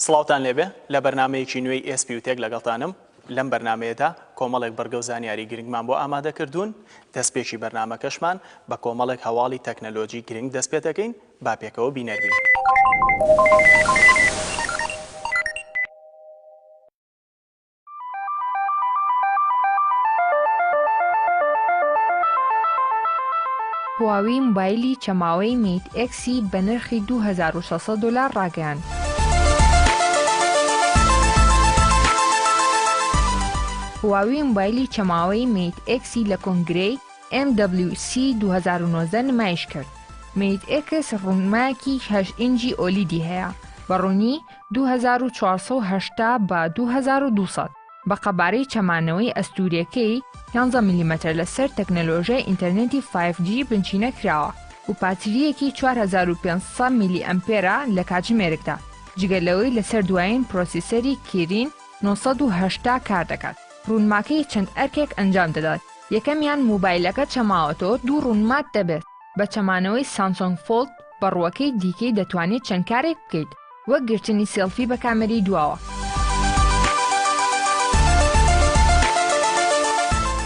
سڵاوتان لێبێ لە بەرنامەیەکی نوێی ئێس بیوتێک لەگەڵتانم لەم بەرنمەیەدا کۆمەڵێک بڕگە و زانیاری گرنگمان بۆ ئامادە کردوون دەستپێکی بەرنمەکەشمان بە کۆمەڵێک هەواڵی تەکنەلۆجی گرنگ دەست پێ دەکەین با پێکەوە بینەربین. هواوی موبایلی چەماوەی میت ئێکسی بە نرخی 2600 دلار ڕاگەیاند. هواوی موبایلی چەماوەی میت ئێکسی لە کۆنگرەی MWC 2019 نمایش کرد. میت ئێکس ڕوونماکی هەش ئینجی ئۆلیدی هەیە بە ڕوونی دوو هەزار و چوار سەد و هەشتا بە دوو هەزار و دوو سەد بە قەبارەی چەمانەوەی ئەستوورەکەی یانزە ملیمەتر لەسەر تەکنەلۆژیای ئینتەرنێتی فایڤ جی بنچینە کراوە و پاترییەکی چوار هەزار و پێنج سەد میلی ئەمپێرە لە کاتژمێرکدا جگە لەوەی لەسەر دوایین پرۆسیسەری کیرین نۆ سەد و هەشتا کار دەکات ڕوونماکەی چەند ئەرکێک ئەنجام دەدات یەکەمیان موبایلەکە چەماوەتەوە دوو ڕوونمات دەبێت بە چەمانەوەی سامسۆنگ فۆڵد بە ڕووەکەی دیکەی دەتوانێت چەند کارێک بکەیت وەک گرتنی سێڵفی بە کامەری دواوە.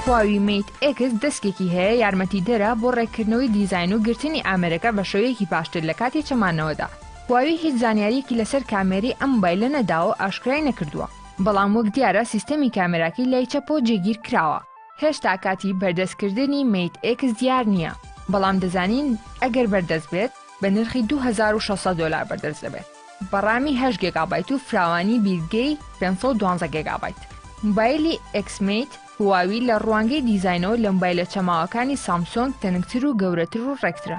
هواوی میت ئێکس دەستکێکی هەیە یارمەتیدەرە بۆ ڕێککردنەوەی دیزاین و گرتنی ئامێرەکە بە شێوەیەکی باشتر لە کاتی چەمانەوەدا. هواوی هیچ زانیارییەکی لەسەر کامێری ئەم مۆبایلە نەداوە و ئاشکرای نەکردووە، بەڵام وەک دیارە سیستەمی کامێراکەی لای چەپەوە جێگیر کراوە. هێشتا کاتی بەردەستکردنی مەیت ئێکس دیار نییە، بەڵام دەزانین ئەگەر بەردەست بێت بە نرخی دوو هەزار و شەش سەد دۆلار بەردەست دەبێت بە ڕامی هەشت گێگابایت و فراوانی بیرگەی پێنج سەد و دوازدە گێگابایت. موبایلی ئێکس مەیت هواوی لە ڕوانگەی دیزاینەوە لە موبایلە چەماوەکانی سامسۆنگ تەنکتر و گەورەتر و ڕێکترە.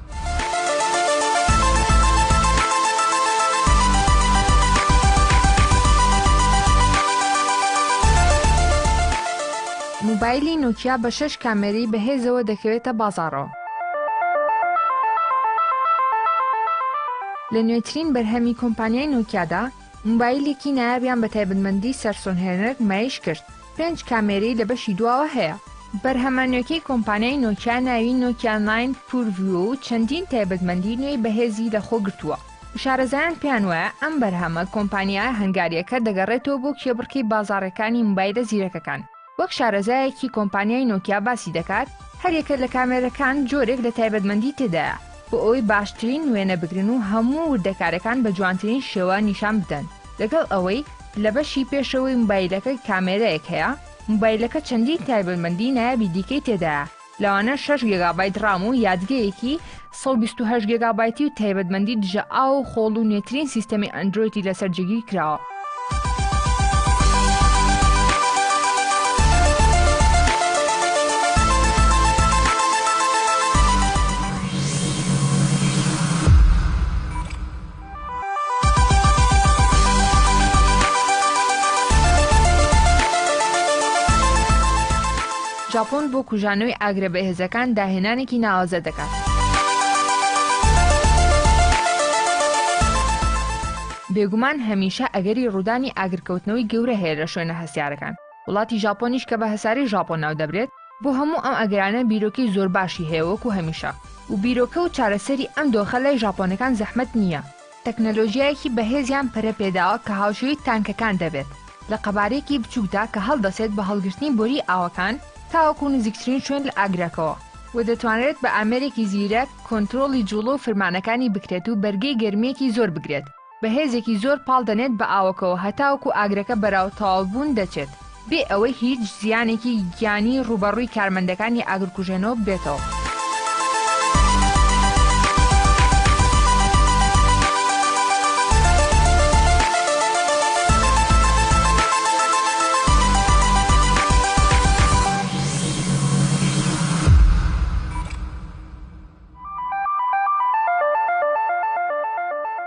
موبایلی نوکیا بە شش کامێری بەهێزەوە دەکەوێتە بازاڕەوە لە نوێترین بەرهەمی کۆمپانیای نوکیادا موبایلێکی نایابیان بە تایبەتمەندی سەرسۆن هێنەر نمایش کرد، پێنج کامێرەی لە بەشی دواوە هەیە. بەرهەمە نوێکەی کۆمپانیای نۆکیا ناوی نۆکیا ناین پور ڤیۆ و چەندین تایبەتمەندی نوێی بەهێزی لەخۆ گرتووە و شارەزایان پێیان وایە ئەم بەرهەمە کۆمپانیا هەنگارییەکە دەگەڕێتەوە بۆ کێبڕکێی بازاڕەکانی موبایلە زیرەکەکان. وەک شارەزایەکی کۆمپانیای نۆکیا باسی دەکات، هەریەکە لە کامێرەکان جۆرێک لە تایبەتمەندی تێدایە بۆ ئەوەی باشترین وێنە بگرن و هەموو وردەکارەکان بە جوانترین شێوە نیشان بدەن، لەگەڵ ئەوەی لە بەشی پێشەوەی موبایلەکە کامێرایەک هەیە، موبایلەکە چەندین تایبەتمەندی نایابی دیکەی تێدایە. لەوانە شەش گێگابایت ڕام و یادگەیەکی سەد و بیست و هەشت گێگابایتی و تایبەتمەندی دژە ئاو و خۆڵ و نوێترین سیستەمی ئەندرۆیدی لەسەر جێگیر کراوە. ژاپۆن بۆ کوژانەوەی ئاگرە بەهێزەکان داهێنانێکی ناوازە دەکات. بێگومان هەمیشە ئەگەری ڕوودانی ئاگرکەوتنەوەی گەورە هەیە لە شوێنە هەستیارەکان وڵاتی ژاپۆنیش کە بە هەسارەی ژاپۆن ناو دەبرێت بۆ هەموو ئەم ئەگەرانە بیرۆکەی زۆر باشی هەیە وەکو هەمیشە و بیرۆکە و چارەسەری ئەم دۆخە لای ژاپۆنەکان زەحمەت نییە تەکنەلۆژیایەکی بەهێزیان پەرە پێداوە کە هاوشێوەی تانکەکان دەبێت لە قەبارەیەکی بچووکدا کە هەڵدەسێت بە هەڵگرتنی بۆری ئاوەکان تاوەکو نزیکترین شوێن لە ئاگرەکەوە و دەتوانرێت بە ئامێرێکی زیرەک کۆنترۆڵی جوڵە و فرمانەکانی بکرێت و بەرگەی گەرمیەکی زۆر بگرێت بە هێزێکی زۆر پاڵ دەنێت بە ئاوەکەوە هەتاوەکو ئاگرەکە بەراو تەواوبوون دەچێت بێ ئەوەی هیچ زیانێکی گیانی ڕووبەڕووی کارمەندەکانی ئاگرکوژێنەوە ببێتەوە.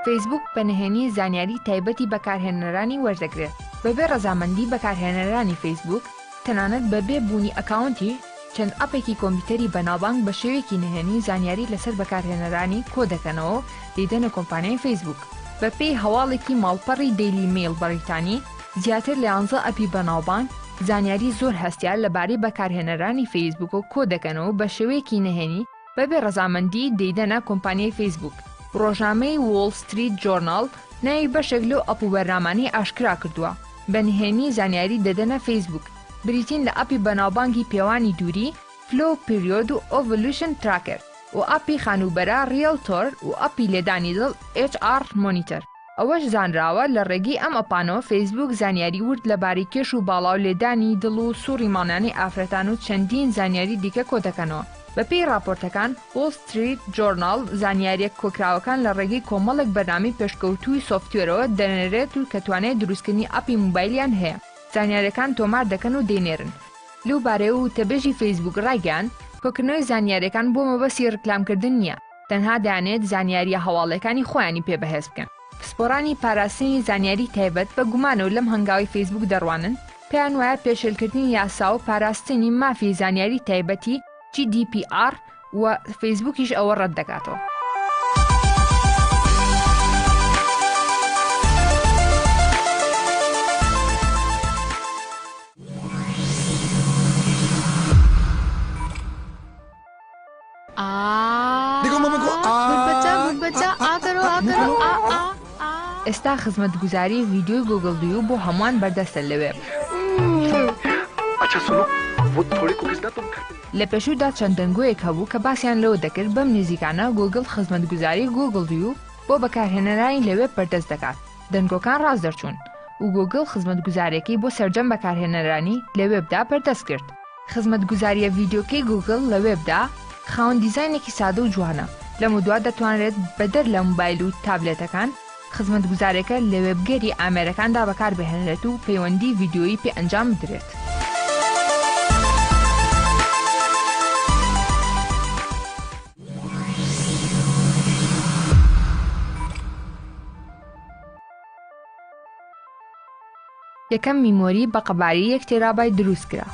فەیسبووک بە نهێنی زانیاری تایبەتی بەکارهێنەرانی وەردەگرێت بەبێ ڕەزامەندی بەکارهێنەرانی فەیسبووک تەنانەت بەبێ بوونی ئەکاونتی چەند ئەپێکی کۆمپیوتەری بەناوبانگ بە شێوەیەکی نهێنی زانیاری لەسەر بەکارهێنەرانی کۆدەکەنەوە و دەیدەنە کۆمپانیای فەیسبووک. بەپێی هەواڵێکی ماڵپەڕی دەیلی مەیڵ بەڕیتانی، زیاتر لە یانزە ئەپی بەناوبانگ زانیاری زۆر هەستیار لەبارەی بەکارهێنەرانی فەیسبووک کۆ دەکەن و بە شێوەیەکی نەهێنی بەبێ ڕەزامەندی دەیدەنە کۆمپانیای فەیسبووک. ڕۆژنامەی وۆڵ ستریت جۆرناڵ ناوی بەشێک لەو ئەپ و بەرنامانەی ئاشکرا کردووە بە نهێنی زانیاری دەدەنە فەیسبووک، بریتین لە ئەپی بەناوبانگی پێوانی دووری، فلۆ پیریۆد و ئۆڤلوشن تراکەر، و ئەپی خانووبەرە، ڕیەڵتۆر، و ئەپی لێدانی دڵ، ئێچ ئاڕ مۆنیتەر. ئەوەش زانراوە لە ڕێگەی ئەم ئەپانەوە فەیسبووک زانیاری ورد لەبارەی کێش و باڵا و لێدانی دڵ و سوڕی مانانی ئافرەتان و چەندین زانیاری دیکە کۆدەکەنەوە. بەپێی ڕاپۆرتەکان، وۆڵ ستریت جۆرناڵ زانیارییە کۆکراوەکان لە ڕێگەی کۆمەڵێک بەرنامەی پێشکەوتووی سۆفتوێرەوە دەنێرێت و کە توانای دروستکردنی ئەپی موبایلیان هەیە، زانیارییەکان تۆمار دەکەن و دەینێرن. لەو بارەیەوە وتەبێژی فەیسبووک ڕایگەیاند، کۆکردنەوەی زانیارییەکان بۆ مەبەستی ڕیکلامکردن نییە، تەنها دەیانەوێت زانیارییە هەواڵەکانی خۆیانی پێ بەهێز بکەن. پسپۆڕانی پاراستنی زانیاری تایبەت بە گومانەوە لەم هەنگاوی فەیسبووک دەڕوانن، پێیان وایە پێشێلکردنی یاسا و پاراستنی مافی زانیاری تایبەتی، GDPR، و، فەیسبووکیش ئەوە ڕەت دەکاتەوە. ئێستا خزمەتگوزاری ڤیدیۆی گوگڵ دوو بۆ هەمووان بەردەستە لەوێ. لە پێشوودا چەند دەنگۆیەک هەبوو کە باسیان لەوە دەکرد بەم نێزیکانە گوگڵ خزمەتگوزاری گوگڵ دوو بۆ بەکارهێنەرانی لەوێب بەردەست دەکات، دەنگۆکان ڕاست دەرچوون و گوگڵ خزمەتگوزارێکی بۆ سەرجەم بەکارهێنەرانی لە وێبدا بەردەست کرد. خزمەتگوزارییە ڤیدیۆکەی گووگڵ لە وێبدا خاوەن دیزاینێکی سادە و جوانە، لەمەودوا دەتوانرێت بەدەر لە مۆبایل و تابلێتەکان، خزمەتگوزارەکە لە وێبگەری ئامێرەکاندا بەکاربهێنرێت و پەیوەندی ڤیدیۆیی پێ ئەنجام بدرێت. یەکەم میمۆری بە قەباری یەک تێرابای دروست کرا.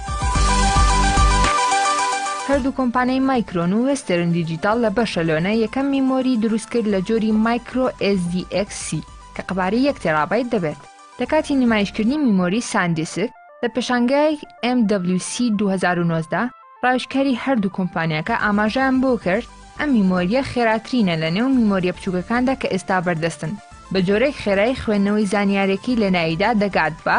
هەردوو کۆمپانیای مایکرۆن و وێسترن دیجیتال لە بەشەلۆنە یەکەم میمۆری دروست کرد لە جۆری مایکرۆ SDXC کە قەباری یەک تێرابایت دەبێت لە کاتی نمایشکردنی میمۆری ساندیسک لە پێشانگای MWC 2019 ڕاوێژکاری هەردوو کۆمپانیاکە ئاماژەیان بۆ کرد، ئەم میمۆرییە خێراترینە لە نێو میمۆرییە بچووکەکاندا کە ئێستا بەردەستن، بە جۆرێک خێرایی خوێندنەوەی زانیارییەکەی لە ناویدا دەگات بە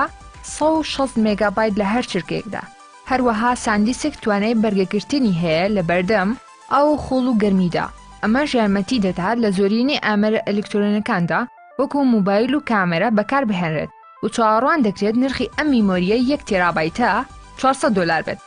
سەد و شەست مێگابایت لە هەر چرکەیەکدا، هەروەها ساندیسک توانای بەرگەگرتنی هەیە لە بەردەم ئاو و خۆڵ و گەرمیدا، ئەمەش یارمەتی دەدات لە زۆرینەی ئامێرە ئەلیکترۆنییەکاندا وەکوو موبایل و کامێرا بەکاربهێنرێت و چاوەڕوان دەکرێت نرخی ئەم میمۆرییەی یەک تێرابایتە چوار سەد دۆلار بێت.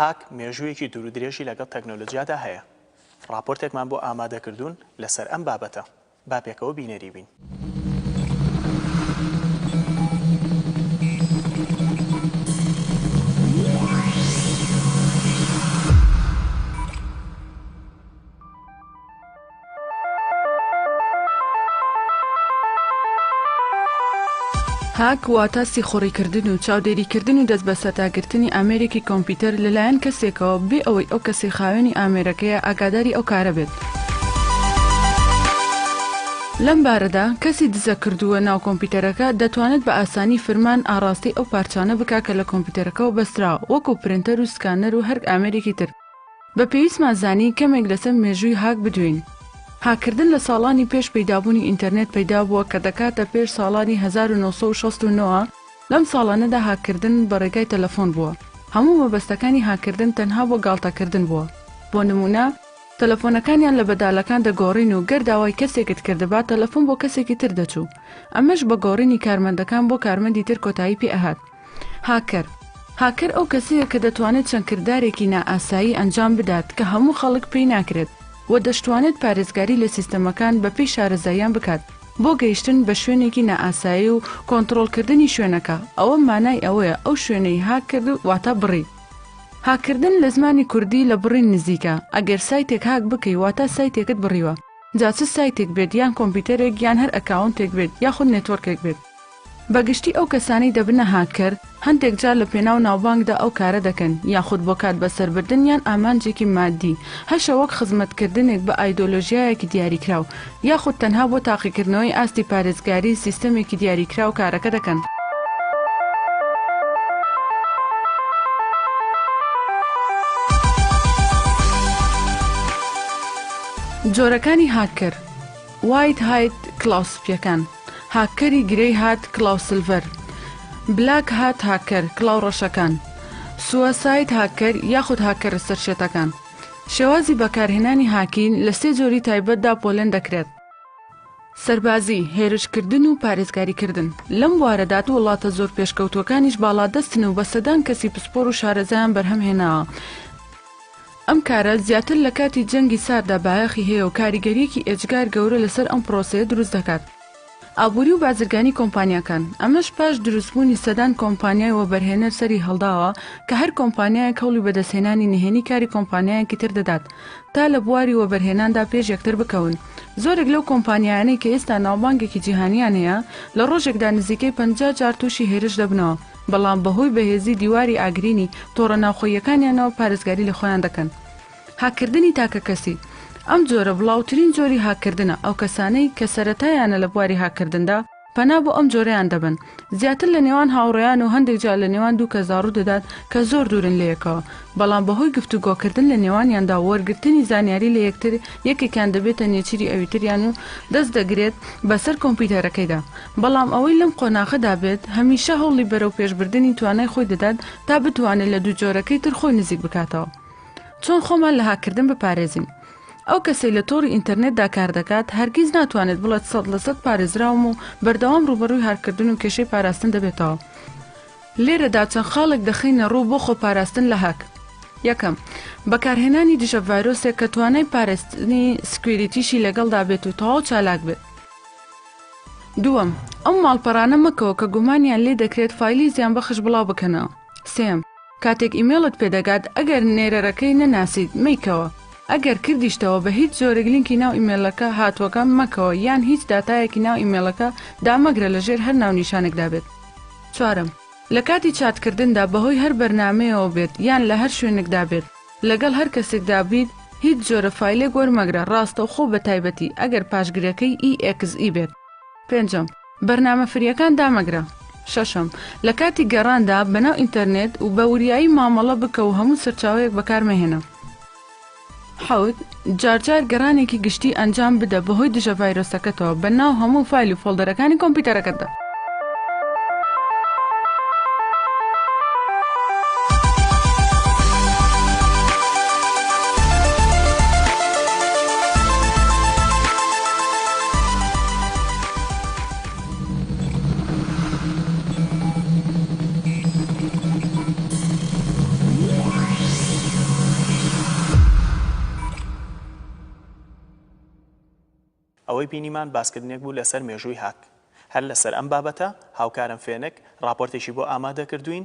هاک مێژوویەکی دوور و درێژی لەگەڵ تەکنۆلۆجیادا هەیە. ڕاپۆرتێکمان بۆ ئامادەکردوون لەسەر ئەم بابەتە. با پێکەوە بینەری بین. هاک واتە سیخوڕی کردن و چاودێری کردن و دەست بەسەرداگرتنی ئامێرێکی کۆمپیوتەر لەلایەن کەسێکەوە بێ ئەوەی ئەو کەسەی خاوێنی ئامێرەکەیە ئاگاداری ئەو کارە بێت. لەم بارەدا، کەسی دزەکردووە ناو کۆمپیوتەرەکە دەتوانێت بە ئاسانی فرمان ئاڕاستەی ئەو پارچانە بکا کە لە کۆمپیوتەرەکەوە بەستراوە وەکو پرنتەر و سکانەر و هەرک ئامێرێکی تر، بە پێویستمان زانی کەمێک لەسەر مێژووی هاک بدوێین. هاککردن لە ساڵانی پێش پەیدابوونی ئینتەرنێت پەیدا بووە کە دەکاتە پێش ساڵانی هەزار و نۆ سەد و شەست و نۆ، لەم ساڵانەدا هاککردن بە ڕێگای تەلەفۆن بووە، هەموو مەبەستەکانی هاککردن تەنها بۆ گاڵتەکردن بووە، بۆ نموونە تەلەفۆنەکانیان لە بەدالەکان دەگۆڕین و گەر داوای کەسێکت کردبا تەلەفۆن بۆ کەسێکی تر دەچوو، ئەمەش بە گۆڕینی کارمەندەکان بۆ کارمەندی تر کۆتایی پێ ئەهات. هاکەر، هاکەر ئەو کەسەیە کە دەتوانێت چەند کردارێکی نائاسایی ئەنجام بدات کە هەموو خەڵک پێی ناکرێت و دەشتوانێت پارێزگاری لە سیستەمەکان بەپێی شارەزاییان بکات بۆ گەیشتن بە شوێنێکی نائاسایی و کۆنتڕۆڵکردنی شوێنەکە ئەوە مانای ئەوەیە ئەو شوێنەی هاک کرد واتە بڕی. هاککردن لە زمانی کوردی لە بڕین نزیکە، ئەگەر سایتێک هاک بکەی واتە سایتێکت بڕیوە جا چ سایتێک بێت یان کۆمپیوتەرێک یان هەر ئەکاونتێک بێت یاخود نێتۆرکێک بێت. بە گشتی ئەو کەسانەی دەبنە هاککەر، هەندێک جار لە پێناو ناوبانگدا ئەو کارە دەکەن، یاخود بۆ کات بەسەربردن یان ئامانجێکی ماددی، هەشە وەک خزمەتکردنێک بە ئایدۆلۆژیایەکی دیاریکراو، یاخود تەنها بۆ تاقیکردنەوەی ئاستی پارێزگاریی سیستەمێکی دیاریکراو کارەکە دەکەن. جۆرەکانی هاککەر، White Hat، کڵاو سپییەکان. هاککەری گرەی هات کڵاو سلڤەر بلاک هات هاککەر کڵاو ڕەشەکان سووساید هاککەر یاخود هاککەرە سەرشێتەکان شێوازی بەکارهێنانی هاکین لە سێ جۆری تایبەتدا پۆلێن دەکرێت سەربازی، هێرشکردن و پارێزگاریکردن. لەم بوارەدا وڵاتە زۆر پێشکەوتووەکانیش باڵادەستن و بە سەدان کەسی پسپۆر و شارەزایان بەرهەمهێناوە. ئەم کارە زیاتر لە کاتی جەنگی سارددا بایەخی هەیە و کاریگەرییەکی ئێجگار گەورە لەسەر ئەم پرۆسەیە دروست دەکات، ئابووری و بازرگانی کۆمپانیاکان، ئەمەش پاش دروستبوونی سەدان کۆمپانیای وەبەرهێنەر سەری هەڵداوە کە هەر کۆمپانیایەک هەوڵی بەدەستهێنانی نهێنی کاری کۆمپانیایەکی تر دەدات تا لە بواری وەبەرهێناندا پێش یەکتر بکەون. زۆرێک لەو کۆمپانیایانەی کە ئێستا ناوبانگێکی جیهانییان هەیە، لە ڕۆژێکدا نزیکەی پەنجا جار تووشی هێرش دەبنەوە. بەڵام بەهۆی بەهێزی دیواری ئاگرینی تۆڕە ناوخۆییەکانیانەوە پارێزگاری لە خۆیان دەکەن. هاککردنی تاکەکەسی، ئەم جۆرە بڵاوترین جۆری هاککردنە، ئەو کەسانەی کە سەرەتایانە لە بواری هاککردندا، پەنا بۆ ئەم جۆرەیان دەبەن، زیاتر لە نێوان هاوڕێیان و هەندێک جار لە نێوان دوو کەسدا ڕوودەدات کە زۆر دوورن لە یەکەوە، بەڵام بەهۆی گفتوگۆکردن لە نێوانیاندا و وەرگرتنی زانیاری لە یەکتر، یەکێکیان دەبێتە نێچیری ئەویتریان و دەست دەگرێت بەسەر کۆمپیوتەرەکەیدا. بەڵام ئەوەی لەم قۆناغەدا بێت هەمیشە هەوڵی بەرەوپێشبردنی توانای خۆی دەدات تا بتوانێت لە دوو جۆرەکەی تر خۆی نزیک بکاتەوە. چۆن خۆمان لە هاککردن بپارێزین؟ ئەو کەسەی لە تۆڕی ئینتەرنێتدا کار دەکات هەرگیز ناتوانێت بڵێت سەد لە سەد پارێزراوم و بەردەوام ڕووبەڕووی هاککردن و کێشەی پاراستن دەبێتەوە. لێرەدا چەند خاڵێک دەخەینە ڕوو بۆ خۆپاراستن لە هاک. یەکەم، بەکارهێنانی دژە ڤایرۆسێک کە توانای پارێزتنی سکویریتیشی لەگەڵدا بێت و تەواو چالاک بێت. دووەم، ئەو ماڵپەڕانە مەکەوە کە گومانیان لێ دەکرێت فایلی زیانبەخش بڵاو بکەنەوە. سێیەم، کاتێک ئیمێڵت پێ دەگات ئەگەر نێرەرەکەی نەناسیت مەیکەوە، ئەگەر کردیشتەوە بە هیچ جۆرێک لینکی ناو ئیمێلەکە هاتووەکە مەکەوە یان هیچ داتایەکی ناو ئیمێڵەکە دامەگرە لە ژێر هەر ناونیشانێکدا بێت. چوارەم، لە کاتی چاتکردندا بەهۆی هەر بەرنامەیەوە بێت یان لە هەر شوێنێکدا بێت، لەگەڵ هەر کەسێکدا بیت هیچ جۆرە فایلێک وەرمەگرە ڕاستەوخۆ بەتایبەتی ئەگەر پاشگرەکەی EXE بێت. پێنجەم، بەرنامە فریەکان دامەگرە. شەشەم، لە کاتی گەڕاندا بەناو ئینتەرنێت و بە وریایی مامەڵە بکە و هەموو سەرچاوەیەک بەکارمەهێنە. حەوت، جارجار گەڕانێکی گشتی ئەنجام بدە بەهۆی دژە ڤایرۆسەکەتەوە بە ناو هەموو فایل و فۆڵدەرەکانی کۆمپیوتەرەکەتدا. ئەوەی بینیمان باسکردنێک بوو لەسەر مێژووی هاک. هەر لەسەر ئەم بابەتە، هاوکارم فێنک، ڕاپۆرتێکی بۆ ئامادەکردووین،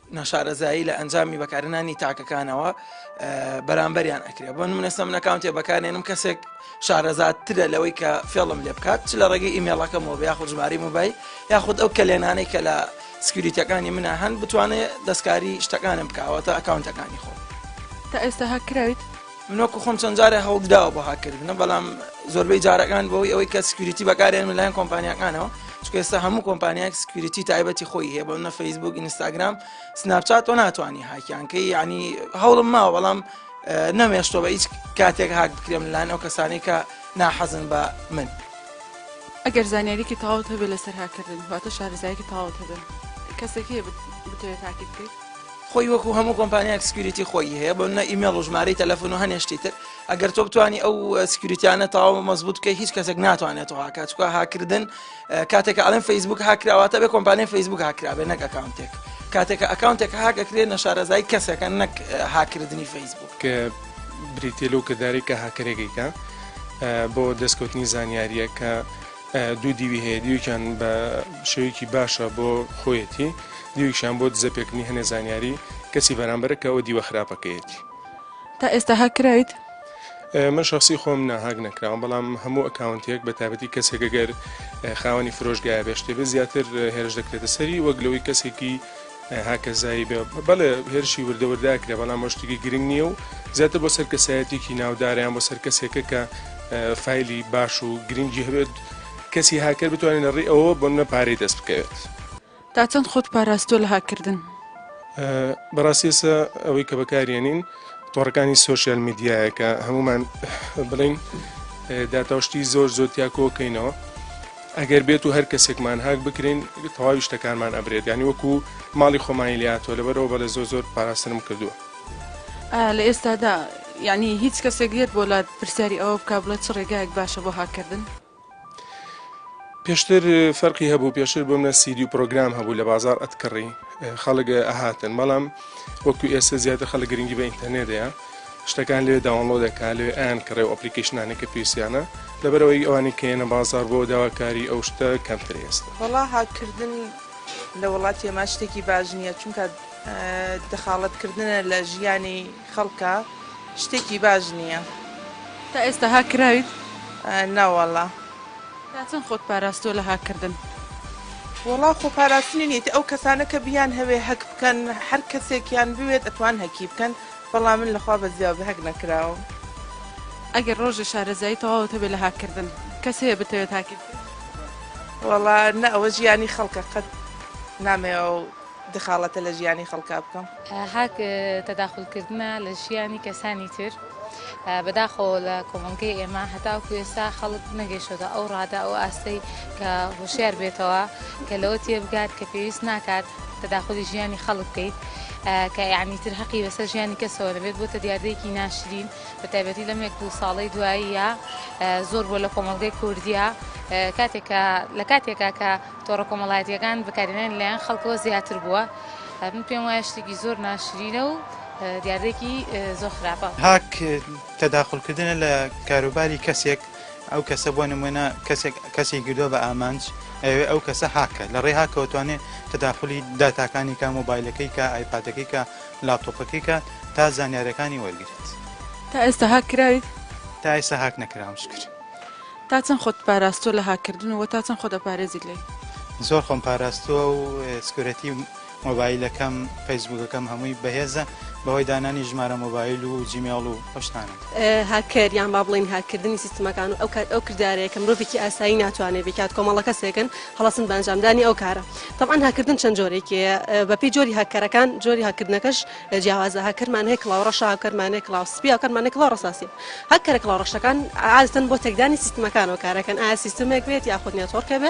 ناشارەزایی لە ئەنجامی بەکارهێنانی تاکەکانەوە بەرامبەریان ئەکرێ بۆ نمونە سەم نەکاونتێ بەکارێنم کەسێک شارەزاترە لەوەی کە فێڵم لێ بکات چ لە ڕێگەی ئیمێڵەکەمەوە بە یاخود ژماری موبایل یاخود ئەو کەلێنانەی کە لە سکیوریتەکانی منە هەن بتوانێت دەستکاری شتەکانم بکاوەتە ئەکاونتەکانی خۆم تا ئێستا هاکراویت؟ من وەکو خۆم چەند جارێ هەوڵدراوە بۆ هاکردنە بەڵام زۆربەی جارەکان بۆی ئەوەی کە سکوریتی بەکارێن لەلایەن کۆمپانیەکانەوە چکە ئێستا هەموو کۆمپانیایك سکوریتی تایبەتی خۆی هەیە بۆ نە فەیسبوک ئینستاگرام سناپچات و ناتوانانی هاکیانکەی ینی هەوڵم ماوە بەڵام نەمێشتۆ بە هیچ کاتێک هاک بکرێم لەلایەن ئەو کەسانی کە ناحەزن بە من. ئەگەر زانیاریکی تەواوت هەبێت لەسەر هاکردن واتە شارەزایەکی تەواوت هەبێت کەسێکی بتەوێت تاکی بکەیت خۆی وەکو هەموو کۆمپانیاک سکیوریتی خۆی هەیە بۆ نە ئیمێڵ و ژمارەی تەلەفۆن و هەنێ شتی تر ئەگەر تۆ بتانی ئەو سکیوریتیانە تەواو مەزبوط بکەی هیچ کەسێک ناتوانێت تۆ هاکات چکە هاکردن کاتێک ئەڵێن فەیسبوک هاکراواتە بێ کۆمپانیای فەیسبوک هاکرابێ نەک ئەکاونتێک کاتێکە ئەکاونتێک هاگەکرێت نەشارەزای کەسەکە نەک هاکردنی فەیسبوک کە بریتێ لەو کردارێک کە هاکرێکێکە بۆ دەستکەوتنی زانیاریەکە دوو دیوی هەیە، دیوێکیان بە شێوەیەکی باشە بۆ خۆیەتی، دیوێکیشیان بۆ دزە پێکردنی هەنێ زانیاری کەسی بەرامبەرە کە ئەوە دیوە خراپەکەیەتی. تا ئێستا هاک کراویت؟ من شەخسی خۆم نا هاک نەکراوم، بەڵام هەموو ئەکاونتێک بە تایبەتی کەسێک گەر خاوەنی فرۆشگایە بێ شتێ بێ زیاتر هێرش دەکرێتە سەری وەک لەوەی کەسێکی هاکەزایی بێ بەڵێ هێرشی وردە وردە ئەکرێ بەڵام ئەوە شتێکی گرنگ نییە و زیاتر بۆ سەر کەسایەتێکی ناودارە یان بۆ سەر کەسێکە کە ئە، فایلی باش و گرنگی هەبێت کەسی هاکەر بتوانێت لە ڕێی ئەوەوە بۆ منە پارەی دەست بکەوێت. تا چەند خۆت پاراستووە لە هاککردن؟ ئە، بەڕاستی ئێستا ئەوەی کە بەکاریێنین تۆڕەکانی سۆشیال میدیایە کە هەموومان ئە، بڵێین ئە، داتا و شتی زۆر زۆر تیا کۆکەینەوە. ئەگەر بێتو هەر کەسێکمان هاک بکرێن تەواوی شتەکانمان ئەبرێت یانی وەکو ماڵی خۆمانی لێهاتوە لەبەر ئەوە بەڵێ زۆر زۆر پاراستنم کردوە. ئا لە ئێستادا یانی هیچ کەسێک یەت بۆ لات پرسیاری ئەوە بکا بڵێ چ ڕێگایەک باشە بۆ هاک کردن؟ پێشتر فەرقی هەبوو پێشتر بۆمنە سیدیو پرۆگرام هەبوو لە بازاڕ ئەتکڕی خەڵک ئەهاتن بەڵام وەکو ئێستا زیاتر خەڵک گرنگی بە ئینتەرنێت دەیا. شتەکان لەوێ داونڵۆدەکە لەوێ ئەیان کڕێ و ئەپلیکیشنانێک کە پێویستیانە لەبەرەوەی ئەوانی کەێنە بازار بۆ داواکاری ئەو شتە کەمتر ئێستا وەڵا هاککردن لە وڵاتی ئەما شتێکی باش نییە چونکە دەخاڵەتکردنە لە ژیانی خەڵکە شتێکی باش نییە تا ئێستا هاک کراویت؟ ناوەڵا تا چەند خۆت پاراستووە لە هاککردن؟ وەڵا خۆ پاراستنی نیت ئەو کەسانە کە بیان هەوێ هەک بکەن هەر کەسێکیان بوێت ئەتوان هەکی بکەن بەڵام من لەخوا بەزیاو بە هەک نەکراوم. ئەگەر ڕۆژێ شارەزایی تەواوت هەبێ لە هاک کردن کەس هەیە بتەوێت هاکیت بکەی؟ وەڵا نە ئەوە ژیانی خەڵکە قەت نامەوێ ئەو دخاڵەتە لە ژیانی خەڵکا بکەم. هاک تەداخول کردنە لە ژیانی کەسانی تر بەداخەوە لە کۆمەڵگەی ئێمە هەتاوەکو ئێستا خەڵک نەگەیشتۆتە ئەو ڕادە ئەو ئاستەی کە هۆشیار بێتەوە کە لەوە تێبگات کە پێویست ناکات تەداخولی ژیانی خەڵک بکەیت کە یەعنی تر هەقی بەسەر ژیانی کەسەوە نەبێت بۆتە دیاردەیەکی ناشرین بە تایبەتی لەم یەک دوو ساڵەی دواییە زۆر بۆ لە کۆمەڵگەی کوردیا کاتێکە لە کاتێکا کە تۆڕە کۆمەڵایەتیەکان بەکارێنان لایەن خەڵکەوە زیاتر بووە من پێم وایە شتێکی زۆر ناشرینە و دیاردێکی زۆر خراپە هاک تەداخلکردنە لە کاروباری کەسێک ئەو کەسە بۆ نموونە کەسێک کەسی گردووە بە ئامانج ئەوێ ئەو کەسە هاکە لە ڕێ هاکەوەتوانێت تەداخلی داتاکانی کا مۆبایلەکەی کا ئایپادەکەی کا لاپتۆپەکەی کا تا زانیارەکانی وەرگرێت. تا ئێستا هاک کراویت؟ تا ئێستا هاک نەکراوم شکر. تا چەند خۆت پاراستووە لە هاککردن و وە تا چەند خۆ دەپارێزیت لێی؟ زۆر خۆم پاراستووە و سکورێتی مۆبایلەکەم فەیسبوکەکەم هەمووی بەهێزە بەهۆی دانانی ژمارە مۆبایل و جیمێڵ و ئەو شتانە. هاککەر یان با بڵێین هاککردنی سیستمەکان و ئەو کات ئەو کردارەیە کە مرۆڤێکی ئاسایی ناتوانێت بیکات کۆمەڵە کەسێکن هەڵەسن بە ئەنجامدانی ئەو کارە تەبعەن هاککردن چەند جۆرێکی هەیە بەپێی جۆری هاککەرەکان جۆری هاککردنەکەش جیاوازە هاککەرمان هەیە کڵاو ڕەشە هاککەرمان هەیە کڵاو سپی هاککەرمان هەیە کڵاو ڕەساسی هاککەرە کڵاو ڕەشەکان عادەتەن بۆ تێکدانی سیستمەکانەوە کارەکەن ئایا سیستمێک بێت یاخود نێتۆرکێ بێ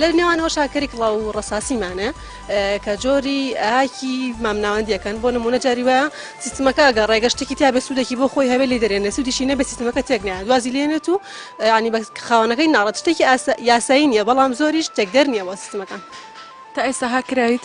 لە نێوانەوەشا کەری کڵاو و ڕەساسی مانە کە جۆری ئاکی مامناوەندیەکەن بۆ نمونە جاری وایە سیستمەکە گە ڕێگە شتێکی تا بێ سوودێکی بۆ خۆی هەوێ لی دەرێنێ سوودیشی نەبێ سیستمەکە تێک نایە دوازی لێنێت و ینی بە خاوەنەکەی ناڕەت شتێکی یاسایی نیە بەڵام زۆریش تێکدەر نییە بۆ سیستمەکان تا ئێستا هاکراویت؟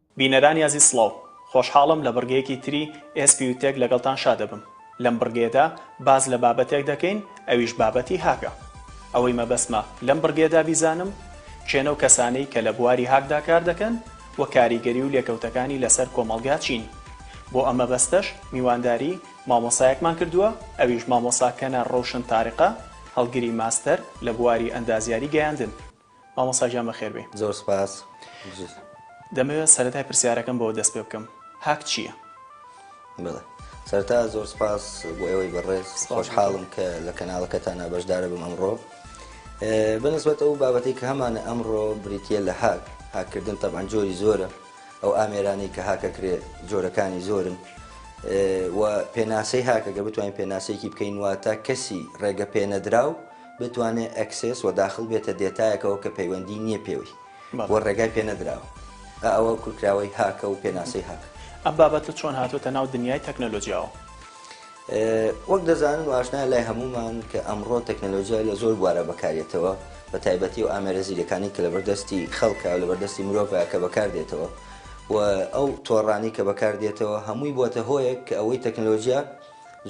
بینەرانی ئازیز سڵاو، خۆشحاڵم لە بڕگەیەکی تری ئێس پیو تێک لەگەڵتان شادەبم. لەم بڕگەیەدا باس لە بابەتێک دەکەین ئەویش بابەتی هاکە. ئەوەی مەبەستمە لەم بڕگەیەدا بیزانم کێنەو کەسانەی کە لە بواری هاکدا کار دەکەن و کاریگەری و لێکەوتەکانی لەسەر کۆمەڵگا چین. بۆ ئەم مەبەستەش میوانداری مامۆستایەکمان کردووە ئەویش مامۆستا کەنە رۆشن تارقە هەڵگری ماستەر لە بواری ئەندازیاری گەیاندن. مامۆستا گیان بەخێربێی. زۆر سوپاس بژیت. دەمەوێت سەرەتای پرسیارەکەم بەوە دەست پێ بکەم هاک چییە؟ بەڵێ سەرەتا زۆر سوپاس بۆ ئێوەی بەڕێز خۆشحاڵم کە لە کەناڵەکەتانە بەشدارە بم ئەمڕۆ بەنسبەت ئەو بابەتی کە هەمانە ئەمڕۆ بریتە لە هاک هاکردن تەبان جۆری زۆرە ئەو ئامێرانی کە هاکەکرێ جۆرەکانی زۆرن و پێناسەی هاکەگە بتوانین پێناسەیەکی بکەین واتە کەسی ڕێگە پێنەدراو بتوانێت ئەکسێس و داخڵ بێتە دێتایەکەوە کە پەیوەندی نییە پێوەی و ڕێگای پێ نەدراوە، ئە ئەوە کورکراوەی هاکە و پێناسەی هاکە. ئەم بابەتە چۆن هاتووەتە ناو دنیای تەکنەلۆجیاوە؟ وەک دەزانن و ئاشنایە لای هەموومان کە ئەمڕۆ تەکنەلۆجیا لە زۆر بوارا بەکاردێتەوە، بە تایبەتی ئەو ئامێرە زیرەکانەی کە لەبەر دەستی خەڵکە و لەبەر دەستی مرۆڤە کە بەکاردێتەوە و ئەو تۆڕانەی کە بەکاردێتەوە هەمووی بووەتە هۆیەک کە ئەوەی تەکنەلۆجیا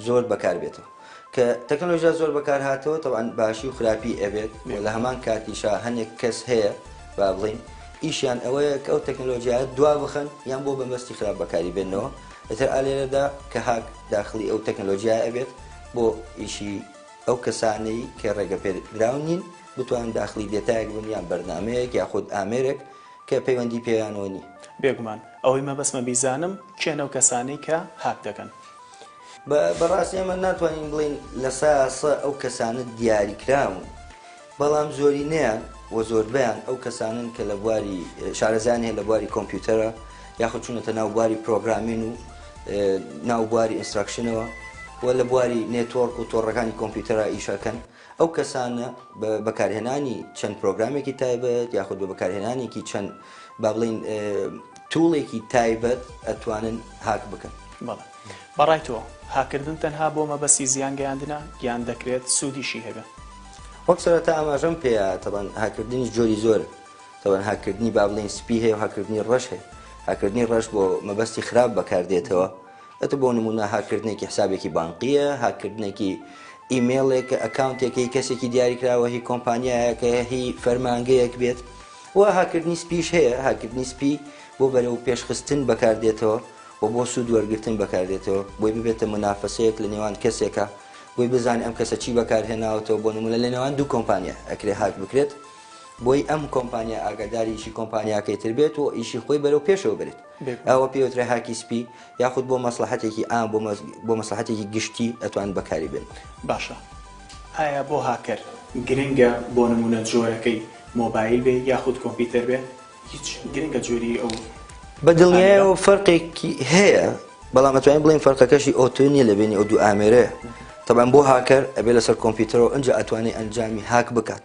زۆر بەکار بێتەوە کە تەکنەلۆژیا زۆر بەکار هاتەوە تەوان باشی و خراپی ئەبێت و لە هەمان کاتیشا هەنێک کەس هەیە با بڵین ئیشیان ئەوەیە کە ئەو تەکنەلۆژیایە دوا بخەن یان بۆ بەمەستی خراپ بەکاری بێنەوە ئەتر ئالێرەدا کە هاک داخلی ئەو تەکنەلۆژیای ئەبێت بۆ ئیشی ئەو کەسانەی کە ڕێگە پێدراون نین بتوان داخلی دێتایەک بن یان بەرنمەیەک یاخود ئامێرێک کە پەیوەندی پێیانەوە نی. بێگومان ئەوەی مەبەستمە بیزانم کێن ئەو کەسانەی کە هاک دەکەن؟ بەڕاستی ئەمە ناتوانین بڵین لە ساسە ئەو کەسانە دیاریکراون بەڵام زۆرینەیان و زۆربیان ئەو کەسانن کە لە بواری شارەزان هەیە لە بواری کۆمپیوتەرە یاخود چونەتە ناو بواری پرۆگرامین و ناو بواری ئینستراکشنەوە و لە بواری نێتۆرک و تۆڕەکانی کۆمپیوتەرە ئیشەکەن ئەو کەسانە بە بەکارهێنانی چەند پرۆگرامێکی تایبەت یاخود بە بەکارهێنانێکی چەند با بڵین توڵێکی تایبەت ئەتوانن هاک بکەن بەڵێ بەڕای تۆ هاکردن تەنها بۆ مەبەسی زیان گەیاندنە یان دەکرێت سوودیشی هەبێت وەک سەرەتا ئاماژەم پێیا تەبەن هاکردنی جۆری زۆر تەبەن هاکردنی با بڵین سپی هەیە و هاکردنی ڕەش هەیە هاکردنی ڕەش بۆ مەبەستی خراپ بەکاردێتەوە ئەتو بۆ نمونە هاک کردنێکی حسابێکی بانقیە، هاک کردنێکی ئیمێڵێکە، ئەکاونتێکە هی کەسێکی دیاریکراوە، هی کۆمپانیایەکە، هی فەرمانگەیەک بێت و هاک کردنی سپیش هەیە، هاک کردنی سپی بۆ بەرەو پێش خستن بەکار دێتەوە و بۆ سود وەرگرتن بەکار دێتەوە، بۆی ببێتە مونافەسەیەک لە نێوان کەسێکا بۆی بزانێ ئەم کەسە چی بەکار هێناوەتەوە بۆ نمونە لە نێوان دوو کۆمپانیا ئەکرێ هاک بکرێت بۆی ئەم کۆمپانیا ئاگاداری ئیشی کۆمپانیاکەی تر بێت و ئیشی خۆی بەرەو پێشەوە برێت. ئەوە پێی وترێ هاکی سپی یاخود بۆ مەسلەحەتێکی ئام بۆ مەسلەحەتێکی گشتی ئەتوان بەکاری بێن. باشە ئایا بۆ هاکەر گرنگە بۆ نمونە جۆرەکەی مۆبایل بێ یاخود کۆمپیتەر بێ هیچ گرنگە جۆری ئەو بە دڵنیایەوە فەرقێکی هەیە بەڵام ئەتوانین بڵین فەرقەکەشی ئۆتۆ نیە لە بینی ئەو دوو ئامێرەیە تەبان بۆ هاکەر ئەبێ لەسەر کۆمپیوتەرەوە ئەنج ئەتوانێت ئەنجامی هاک بکات.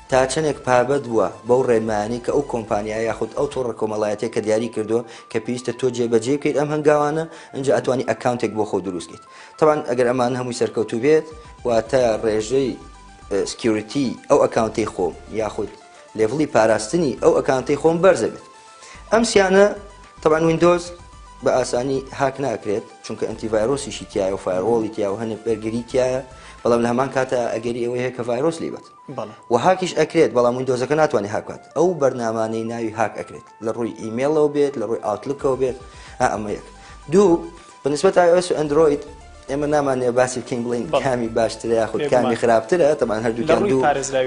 تا چەندێک پابەد بووە بەو ڕێنمایانەی کە ئەو کۆمپانیا یاخود ئەو تۆڕە کۆمەڵایەتیە کە دیاری کردووە کە پێویستە تۆ جێ بەجێی بکەیت ئەم هەنگاوانە ئینجا ئەتوانی ئەکاونتێک بۆ خۆ دروست کەیت تەبان ئەگەر ئەمانە هەمووی سەرکەوتوو بێت واتە ڕێژەی سکیوریتی ئەو ئەکاونتەی خۆم یاخود لێڤڵی پاراستنی ئەو ئەکاونتەی خۆم بەرزە بێت ئەم سیانە تەبان وینندۆز بە ئاسانی هاک ناکرێت چونکە ئەنتیڤایرۆسیشی تایە و فایرۆڵی تیا و هەنێک بەرگری تایە بەڵام لە هەمان کاتە ئەگەری ئەوەیە کە ڤایرۆس لیبێت وە هاکیش ئەکرێت بەڵام ویندۆزەکە ناتوانێت هاک بکات ئەو بەرنامانەی ناوی هاک ئەکرێت لە ڕووی ئیمێڵەوە بێت لە ڕووی ئاوتلکەوە بێت ئا ئەمە یەک دوو بە نسبەت iOS و ئەندرۆید ئێمە نامانەیە باسی بکەین بڵین کامی باشترە یاخود کامی خراپترە تەبان هەردووکیان دوو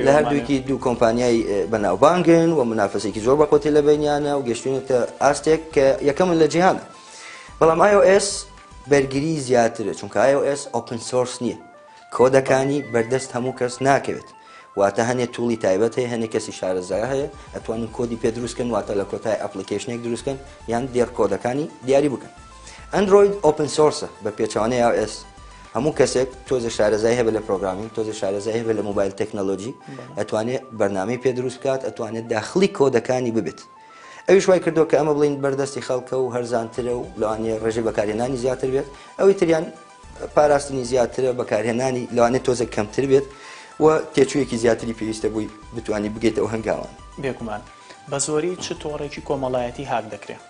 لە هەردووکی دوو کۆمپانیای بەناوبانگن و منافەسێکی زۆر بەقۆتی لە بینیانە و گەشتونێتە ئاستێک کە یەکەمن لە جیهانە بەڵام iOS بەرگری زیاترە چونکە iOS ئۆپن سۆرس نییە کۆدەکانی بەردەست هەموو کەس ناکەوێت واتە هەنێ توڵی تایبەت هەیە هەنێ کەسی شارەزا هەیە ئەتوانن کۆدی پێ دروست کەن واتە لە کۆتای ئەپلیکەیشنێک دروست کەن یان دێڕ کۆدەکانی دیاری بکەن ئەندرۆید ئۆپن سۆرسە بە پێچەوانەی ئاو ئێس هەموو کەسێک تۆزە شارەزای هەبێ لە پرۆگرامین تۆزە شارەزای هەبێ لە موبایل تەکنەلۆژی ئەتوانێت بەرنامەی پێ دروست بکات ئەتوانێت داخلی کۆدەکانی ببێت ئەویش وای کردو کە ئەمە بڵین بەردەستی خەڵکە و هەرزانترە و لەوانەیە ڕێژەی بەکارهێنانی زیاتر بێت ئەوی تریان پاراستنی زیاترە بەکارهێنانی لەوانێت تۆزێک کەمتر بێت و تێچوویەکی زیاتری پێویستە بووی بتانی بگەیت ئەو هەنگاوان بێگومان بە زۆری چ تۆڕێکی کۆمەڵایەتی هاک دەکرێت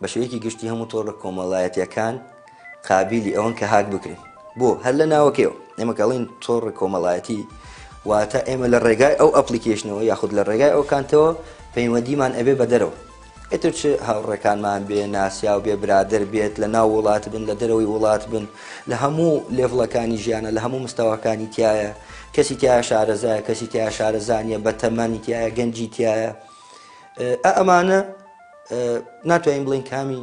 بە شێوەیەکی گشتی هەموو تۆڕە کۆمەڵایەتیەکان قابلی ئەوەن کە هاک بکرێن بۆ هەر لە ناوەکەیەوە ئێمەکەڵین تۆڕ کۆمەڵایەتی واتە ئێمە لە ڕێگای ئەو ئەپلیکیشنەوە یاخود لە ڕێگای ئەو کانتەوە پەیوەندیمان ئەبێ بە دەرەوە ئیتر چ هاوڕێکانمان بێ ناسیاو بێ برادەر بێت لە ناو وڵات بن لە دەرەوەی وڵات بن لە هەموو لێڤڵەکانی ژیانە لە هەموو مستەواکانی تایە کەسی تیا شارەزایە کەسی تیا شارەزانیە بە تەمەنی تایە گەنجی تایە ئەمانە ناتوانین بڵین کامی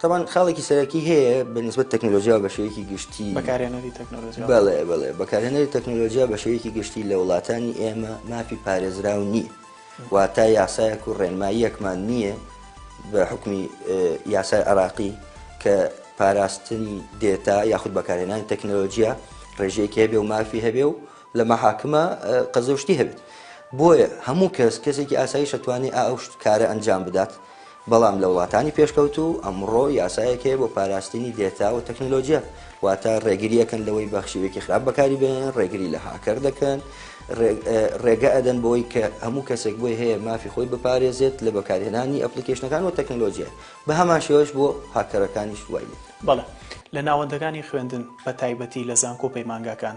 تەبان خاڵێکی سەرەکی هەیە بە نسبت تەکنۆلۆژیا بە شێوەیەکی گشتی بەکارێنەری تەکنۆلۆژیا بەڵێ بڵێ بەکارێنەری تەکنۆلۆژیا بە شێوەیەکی گشتی لە وڵاتانی ئێمە مافی پارێزراو نییە واتە یاسایەک و ڕێنماییەکمان نییە بە حکومی یاسای عراقی کە پاراستنی دێتا یاخود بەکارێنانی تەکنۆلۆژیا ڕێژەیەکی هەبێ و مافی هەبێ و لە مەحاکمە قەزەشتی هەبێت بۆیە هەموو کەس کەسێکی ئاسایی شەتوانی ئا ئەو کارە ئەنجام بدات بەڵام لە وڵاتانی پێشکەوتوو ئەمڕۆ یاسایەک هەیە بۆ پاراستنی دێتا و تەکنەلۆجیا واتە ڕێگری ئەکەن لەوەی بە شێوەیەکی خراپ بەکاری بێنن ڕێگری لە هاکەر دەکەن ڕێگە ئەدەن بۆی کە هەموو کەسێک بۆی هەیە مافی خۆی بپارێزێت لە بەکارهێنانی ئەپلیکیشنەکان و تەکنەلۆجیا بە هەمان شێوەش بۆ هاکەرەکانیش وای لێ بەڵێ لە ناوەندەکانی خوێندن بە تایبەتی لە زانکۆ پەیمانگاکان.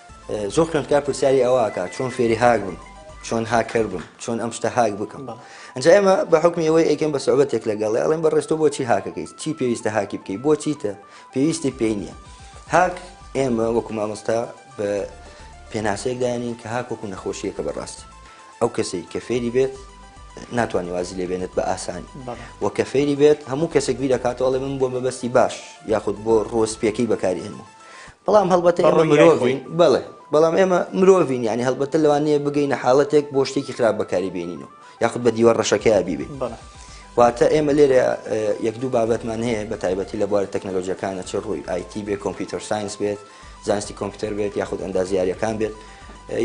زۆر خوێندکار پرسیاری ئەوە ئەکات چۆن فێری هاک بم چۆن هاکەر بم چۆن ئەم شتە هاک بکەم ئەنج ئێمە بە حکمی ئەوەی ئەیکەم بە سعوبەتێک لەگەڵ ئەڵێن بە ڕێستۆ بۆچی هاکەکەی چی پێویستە هاکی بکەی بۆچی تە پێویستی پێی نییە هاک ئێمە وەکو مامۆستا بە پێناسەیەک داێنین کە هاک وەکو نەخۆشیەکە بەڕاستی ئەو کەسەی کە فێری بێت ناتوانانی وازی لێبێنێت بە ئاسانی و کە فێری بێت هەموو کەسێک بی دەکاتەوەڵێ من بۆ مەبەستی باش یاخود بۆ ڕۆسپیەکەی بەکاری ئێنمە بەڵام هەڵبەتە ئێمە مرۆڤین بەڵێ بەڵام ئێمە مرۆڤین یعنی هەڵبەتە لەوانەیە بگەینە حاڵەتێک بۆ شتێکی خراپ بەکاری بێنین و یاخود بە دیوە ڕەشەکەی بیبێ واتە ئێمە لێرە یەک دوو بابەتمان هەیە بە تایبەتی لە بوارە تەکنەلۆژیەکانە چ ڕووی آیتی بێ کۆمپیوتەر ساینس بێت زانستی کۆمپیوتەر بێت یاخود ئەندازیارەکان بێت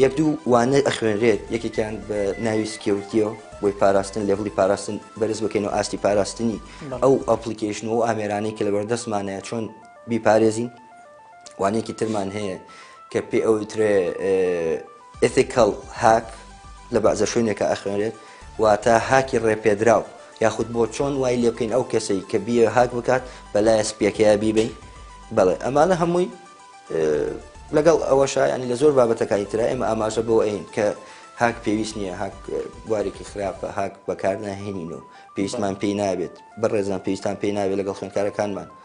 یەک دوو وانە ئەخوێنرێت یەکێکیان بە ناوی سکیوتیەوە بۆی پاراستن لێڤڵی پاراستن بەرز بکەین و ئاستی پاراستنی ئەو ئەپلیکیشن و ئامێرانەی کە لە بەردەستمانەیە چۆن بیپارێزین وانەیەکی ترمان هەیە کە پێ ئەو ترێ ئتیکەڵ هاک لە بەعزە شوێنێکە ئەخوێنێت واتە هاکی ڕێپێدراو یاخود بۆ چۆن وای لێ بکەین ئەو کەسەی کە بیە هاک بکات بەلایە سپیەکەیا بیبین بەڵێ ئەمانە هەمووی لەگەڵ ئەوە شایانی لە زۆر بابەتەکانی تررا ئێمە ئاماژە بۆ ئەین کە هاک پێویست نییە هاک بوارێکی خراپە هاک بەکارناهێنین و پێویستمان پێی نابێت بەڕێزان پێویستان پێی نابێت لەگەڵ خوێنکارەکانمان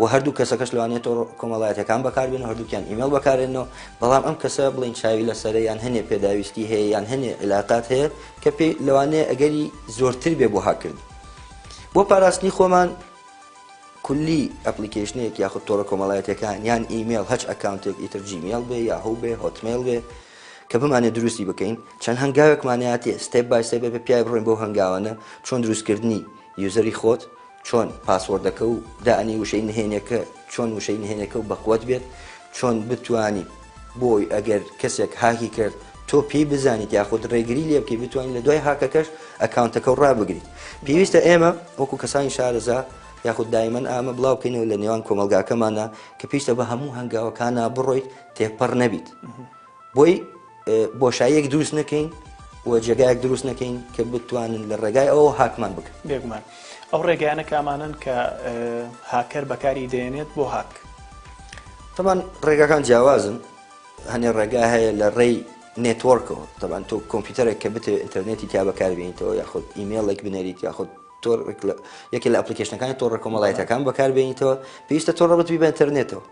و هەردوو کەسەکەش لەوانەیە تۆڕە کۆمەڵایەتیەکان بەکاربێن و هەردووکیان ئیمێڵ بەکارێنەوە بەڵام ئەم کەسە بڵین چاوی لەسەرە یان هەنێ پێداویستی هەیە یان هەنێ علااقات هەیە کە پێی لەوانەیە ئەگەری زۆرتر بێ بۆ هاکردن بۆ پاراستنی خۆمان کولی ئەپلیکیشنێک یاخود تۆڕە کۆمەڵایەتەکان یان ئیمێل هەچ ئەکاونتێک ئیتر جیمیل بێ یا هەو بێ هۆتمێل بێ کە بمانێت دروستی بکەین چەند هەنگاوێکمانەتی ستێپ بای سێ بە پیای بڕۆین بۆ هەنگاوانە چۆن دروستکردنی یوزەری خۆت چۆن پاسۆردەکە و دانی وشەی نهێنێکە چۆن وشەی نهێنێکە و بەقوەت بێت چۆن بتوانیت بۆی ئەگەر کەسێک هاکی کرد تۆ پێی بزانیت یاخود ڕێگری لێ بکەی بتوانین لە دوای هاکەکەش ئەکاونتەکە و ڕابگریت پێویستە ئێمە وەکو کەسانی شارەزا یاخود دایمەن ئامە بڵاو بکەینەوە لە نێوان کۆمەلگاکەمانە کە پێویستە بە هەموو هەنگاوەکانە بڕۆیت تێپەڕ نەبیت. بۆی بۆشاییەک دروست نەکەین و جێگایەک دروست نەکەین کە بتوانن لە ڕێگای ئەو هاکمان بکەن بێگومان ئەو ڕێگەیانە کامانن کە هاکەر بەکاری دێنێت بۆ هاک تەمان ڕێگاکان جیاوازن هەنێ ڕێگا هەیە لە ڕێی نێتۆرکەوە تەبان تۆ کۆمپیوتەرێک کە بتێ ئینتەرنێتی تا بەکاربیێنیتەوە یاخود ئیممەڵێک بنەریت یاخود تۆر یەکێ لە ئەپلیکیشنەکانی تۆڕە کۆمەڵایەتەکان بەکاربیێنیتەوە پێویستە تۆڕە بتبی بە ئینتەرنێتەوە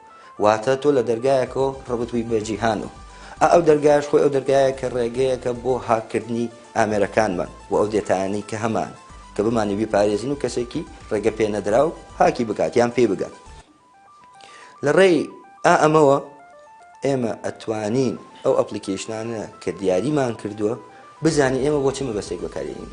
واتە تۆ لە دەرگایەکەوە ڕەبت بووی بە جیهان و ئا ئەو دەرگایەش خۆی ئەو دەرگایە کە ڕێگەیەکە بۆ هاک کردنی ئامێرەکانمان و ئەو دێتایانەی کە هەمان کە بمانی بیپارێزین و کەسێکی ڕێگە پێ نەدراو هاکی بکات یان پێی بگات لە ڕێی ئا ئەمەوە ئێمە ئەتوانین ئەو ئەپلیکیشنانە کە دیاریمان کردووە بزانین ئێمە بۆ چ مەبەستێک بەکارێنین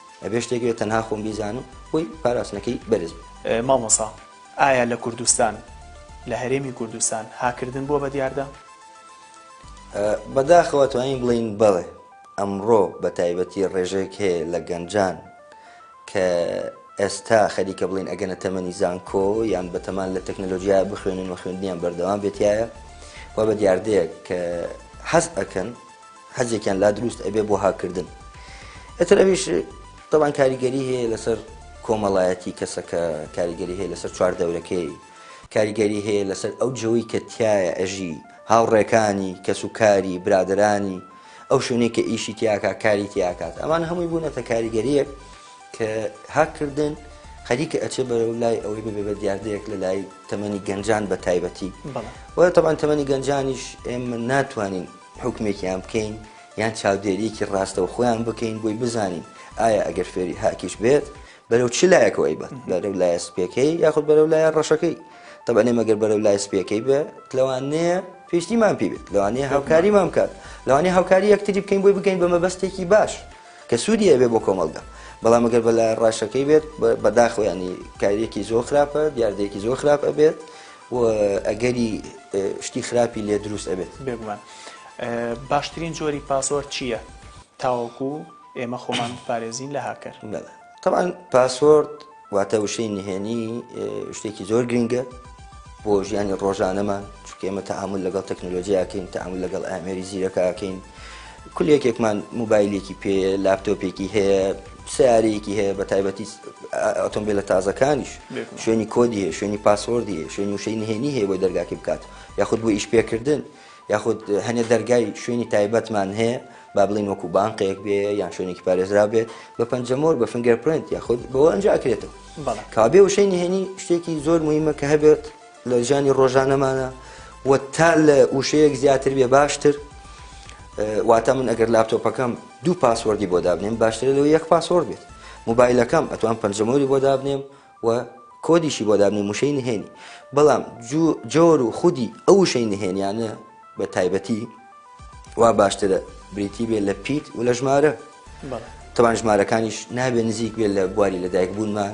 ئەبێ شتێک بێ تەنها خۆم بیزانم بۆی پاراستنەکەی بەرز بێ. مامۆسا ئایا لە کوردستان لە هەرێمی کوردستان هاکردن بووە بە دیاردە؟ بەداخەوە توانین بڵین بەڵێ ئەمڕۆ بە تایبەتی ڕێژەیەک هەیە لە گەنجان کە ئێستا خەریکە بڵین ئەگەنە تەمەنی زانکۆ یان بەتەمان لە تەکنەلۆژییا بخوێنن و خوێندنیان بەردەوام بێتایە و بە دیاردەیەک کە حەز ئەکەن حەزێکیان لا دروست ئەبێ بۆ هاککردن ئەتر ئەویش تەوان کاریگەری هەیە لەسەر کۆمەڵایەتی کەسەکە کاریگەری هەیە لەسەر چوار دەورەکەی کاریگەری هەیە لەسەر ئەو جەوەی کە تایە ئەژی هاوڕێکانی کەس و کاری برادرانی ئەو شوێنێک کە ئیشی تیاکە کاری تیاکات ئەمان هەمووی بوونەتە کاریگەریەک کە هاککردن خەریکە ئەچێ بەرەو لای ئەوەی ببێ بە دیاردەیەک لە لای تەمەنی گەنجان بە تایبەتی وە تەبان تەمەنی گەنجانیش ئێمە ناتوانین حوکمێکیان بکەین یان چاودێریەکی ڕاستەوخۆیان بکەین بۆی بزانین ئایا ئەگەر فێری هاکیش بێت بەرەو چ لایەکەوەی بەت بەرەو لایە سپیەکەی یاخود بەرەو لایە ڕەشەکەی تەبەنێ مەگەر بەرەو لای سپیەکەی بێ لەوانەیە پێشتیمان پێ بێت لەوانەیە هاوکاریمان بکات لەوانەیە هاوکاری یەکتری بکەین بۆی بگەین بە مەبەستێکی باش کە سوودی ئەبێ بۆ کۆمەڵگە بەڵام ئەگەر بە لای ڕاشەکەی بێت بەداخۆیانی کاریەکی زۆر خراپە دیاردەیەکی زۆر خراپە بێت و ئەگەری شتی خراپی لێ دروست ئەبێت. بێگومان باشترین جۆری پاسۆرد چییە تاوەکو ئێمە خۆمان بپارێزین لە هاکەر؟ تەبعەن پاسۆرد واتە وشەی نهێنی شتێکی زۆر گرنگە بۆ ژیانی ڕۆژانەمان چونکە ئێمە تەعامل لەگەڵ تەکنۆلۆژیاکەین تەعامل لەگەڵ ئامێری زیرەکەکەین کولێکێکمان موبایلێکی پێ لاپتۆپێکی هەیە سیارەیەکی هەیە بە تایبەتی ئۆتۆمبیلە تازەکانیش شوێنی کۆدی هەیە شوێنی پاسۆردی هەیە شوێنی وشەی نهێنی هەیە بۆی دەرگاکی بکات یاخود بۆ ئیش پێکردن یاخود هەنێ دەرگای شوێنی تایبەتمان هەیە با بڵین وەکو بانقێک بێ یان شوێنێکی پارێزرا بێت بە پەنجەمۆر بە فنگەر پرنت یاخود بەوە ئەنج ئەکرێتەوە کابێ وشەی نهێنی شتێکی زۆر مهمە کە هەبێت لە ژیانی ڕۆژانەمانە و تا لە وشەیەک زیاتر بێ باشتر واتە من ئەگەر لاپتۆپەکەم دوو پاسوەردی بۆ دابنێم باشترە لەوە یەک پاسۆرد بێت موبایلەکەم ئەتوان پەنجەمۆری بۆ دابنێم و کۆدیشی بۆ دابنی موشەی نهێنی بەڵام جۆر و خودی ئەو شەی نهێنیانە بە تایبەتی وا باشترە بریتی بێ لە پیت و لە ژمارە تەوان ژمارەکانیش نابێ نزیک بێت لە بواری لەدایک بوونمان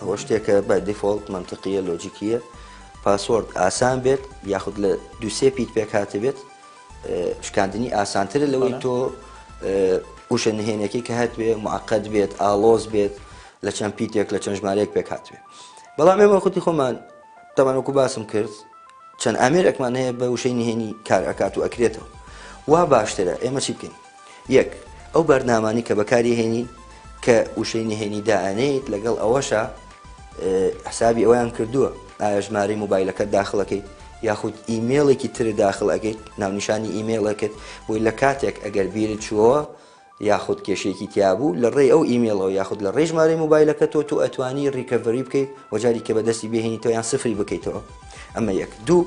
ئەوە شتێکە بای دیفۆڵت مەنتقییە لۆجیکییە پاسۆرد ئاسان بێت یاخود لە دوسێ پیت پێک هاتبێت شکاندنی ئاسانترە لەوەی تۆ وشە نهێنەکەی کە هاتوێ معقد بێت ئالۆز بێت لە چەند پیتێک لە چەند ژمارەیەک پێک هاتوێ بەڵام ئێمە خودی خۆمان تەمانوەکو باسم کرد چەند ئامێرێکمان هەیە بە وشەی نهێنی کار ئەکات و ئەکرێتەوە وا باشترە ئێمە چی بکەین یەک، ئەو بارنامانەی کە بەکاریهێنین کە وشەی نهێنی دائەنێیت لەگەڵ ئەوەشا حسابی ئەویان کردووە ئایا ژمارەی موبایلەکەت داخڵەکەیت یاخود ئیمێڵێکی تر داخل ئەەکەیت ناونیشانی ئیمێڵەکەت بۆی لە کاتێک ئەگەر بیرت چووەوە یاخود کێشێکی تیابوو لە ڕێی ئەو ئیمێڵەوە یاخود لە ڕێی ژمارەی موبایلەکە تۆ تو ئەتوانی ڕیکەڤری بکەیت وەجاری کە بەدەستی بهێنیتەوە یان سفری بکەیتەوە ئەمە یەک دوو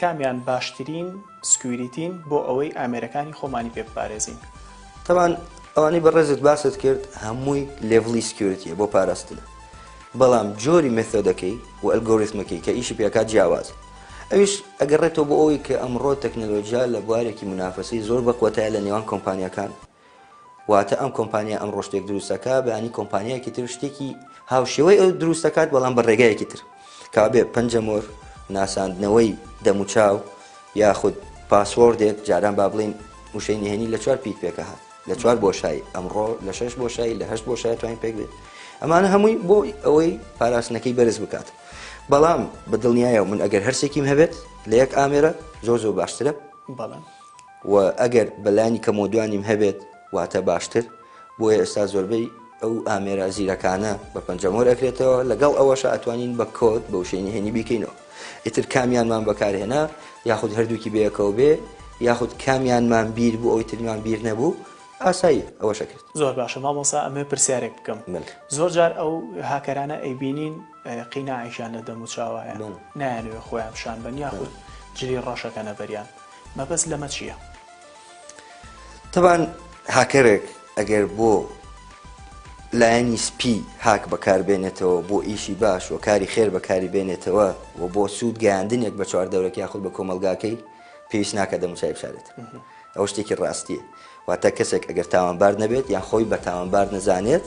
کامیان باشترین سکویریتین بۆ ئەوەی ئامێرەکانی خۆمانی پێ بپارێزین؟ تەبعەن ئەوانەی بەڕێزت باست کرد هەمووی لێڤڵی سکیۆرتیە بۆ پاراستنە بەڵام جۆری مێثۆدەکەی و ئەلگۆریثمەکەی کە ئیشی پێ ئەکات جیاوازە ئەویش ئەگەڕێتەوە بۆ ئەوەی کە ئەمڕۆ تەکنەلۆجیا لە بوارێکی منافەسەی زۆر بەقوەتایە لە نێوان کۆمپانیاکان واتە ئەم کۆمپانیا ئەمڕۆ شتێک دروست دەکات بەیانی کۆمپانیایەکی تر شتێکی هاوشێوەی ئەو دروست دەکات بەڵام بە ڕێگایەکی تر کابێ پەنجەمۆر ناساندنەوەی دەموچاو یاخود پاسۆردێک جاران با بڵین وشەی نهێنی لە چوار پیت پێکە هات لە چوار بۆشایی ئەمڕۆ لە شش بۆشایی لە هەشت بۆشای توانین پێک بێت ئەمانە هەمووی بۆ ئەوەی پاراستنەکەی بەرز بکات بەڵام بە دڵنیایە من ئەگەر هەرسێکیم هەبێت لە یەک ئامێرە زۆر زۆر باشترە بەڵام و ئەگەر بە لانی کەمەوە دوانیم هەبێت واتە باشتر، بۆیە ئێستا زۆربەی ئەو ئامێرە زیرەکانە بە پەنجە مۆر ئەکرێتەوە، لەگەڵ ئەوەشا ئەتوانین بە کۆد بە وشەی نهێنی بیکەینەوە، ئیتر کامیانمان بەکارهێنا یاخود هەردووکی بەیەکەوە بێ یاخود کامیانمان بیر بوو ئەوی تریمان بیر نەبوو ئاساییە ئەوەش ئەکرێت. زۆر باشە مامۆستا ئەمەوێ پرسیارێک بکەم زۆر جار ئەو هاکەرانە ئەیبینین قیناعێکیان لە دەموچاوایە نایانەوێ خۆیان پیشان بەن یاخود جلی ڕەش ئەکەنە بەریان، مەبەست لەمە چیە؟ تەبان هاکەرێک ئەگەر بۆ لایەنی سپی هاک بەکاربێنێتەوە بۆ ئیشی باش و کاری خێر بەکاری بێنێتەوە و بۆ سوود گەیاندنێک بە چوار دەورەکی یاخود بە کۆمەلگاکەی پێویست ناکە دەموچای بشارێت ئەو شتێکی ڕاستیە واتە کەسێک ئەگەر تاوانبار نەبێت یان خۆی بە تاوانبار نەزانێت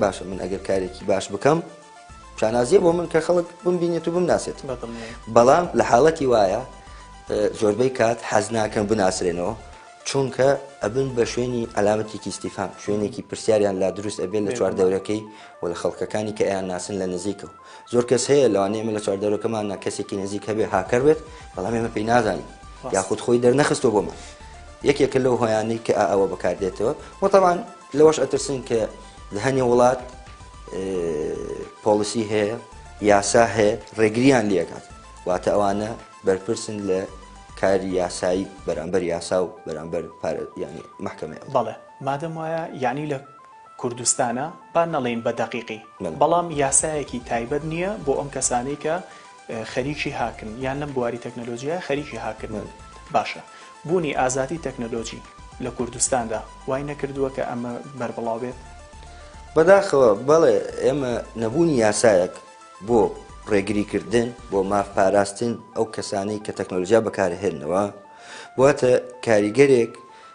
باشە من ئەگەر کارێکی باش بکەم شانازیە بۆ من کە خەڵک بم بینێت و بم ناسێت بەڵام لە حاڵەتی وایە زۆربەی کات حەز ناکەم بناسرێنەوە چونکە ئەبن بە شوێنی ئەلامەتێکی استیفان شوێنێکی پرسیاریان لا دروست ئەبێت لە چوار دەورەکەی و لە خەڵکەکانی کە ئەیان ناسن لە نزیکە و زۆر کەس هەیە لەوانێ ئمە لە چوار دەورەکەمان نا کەسێکی نزیک هەبێ هاکەر بێت بەڵام ئێمە پێی نازانین یاخود خۆی دەرنەخستەوە بۆمان یەکێکە لەو هۆیانەی کە ئەوە بەکاردێتەوە وەتەوان لەوەش ئەترسن کە هەنێ وڵات پۆلیسی هەیە یاسا هەیە ڕێگریان لەکات واتە ئەوانە بەرپرسن لە کاری یاسایی بەرامبەر یاسا و بەرامبەر ینی محکمە بەڵێ مادەم وایە یعنی لە کوردستانە با نەڵین بە دەقیقی بەڵام یاسایەکی تایبەت نییە بۆ ئەم کەسانی کە خەریکی هاکن یان لەم بواری تەکنەلۆجیایە خەریکی هاکن باشە بوونی ئازادی تەکنەلۆجی لە کوردستاندا وای نەکردووە کە ئەمە بەربڵاو بێت؟ بەداخەوە بەڵێ ئێمە نەبوونی یاسایەک بۆ ڕێگریکردن بۆ ماف پاراستن ئەو کەسانەی کە تەکنۆلژیا بەکارهێنەوە واتە کاریگەرێک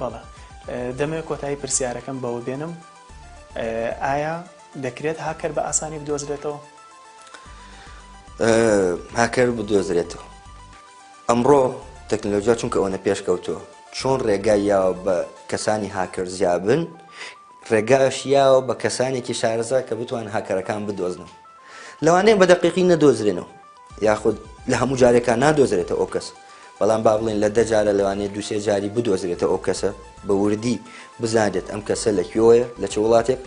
بەڵێ دەمەوێت کۆتایی پرسیارەکەم بەوە بێنم ئایا دەکرێت هاکەر بە ئاسانی بدۆزرێتەوە هاکەر بدۆزرێتەوە ئەمڕۆ تەکنەلۆژیا چونکە ئەوەنە پێشکەوتووە چۆن ڕێگای یاوە بە کەسانی هاکەر زیابن ڕێگاش یاوە بە کەسانێکی شارەزا کە بتوان هاکەرەکان بدۆزنەوە لەوانەیە بە دەقیقی نەدۆزرێنەوە یاخود لە هەموو جارێکا نادۆزرێتە ئەوکەسە، بەڵام با بڵێین لە دە جارە لەوانەیە دوو سێ جاری بدۆزرێتە ئەوکەسە بە وردی بزانرێت ئەم کەسە لە کوێوەیە لە چ وڵاتێک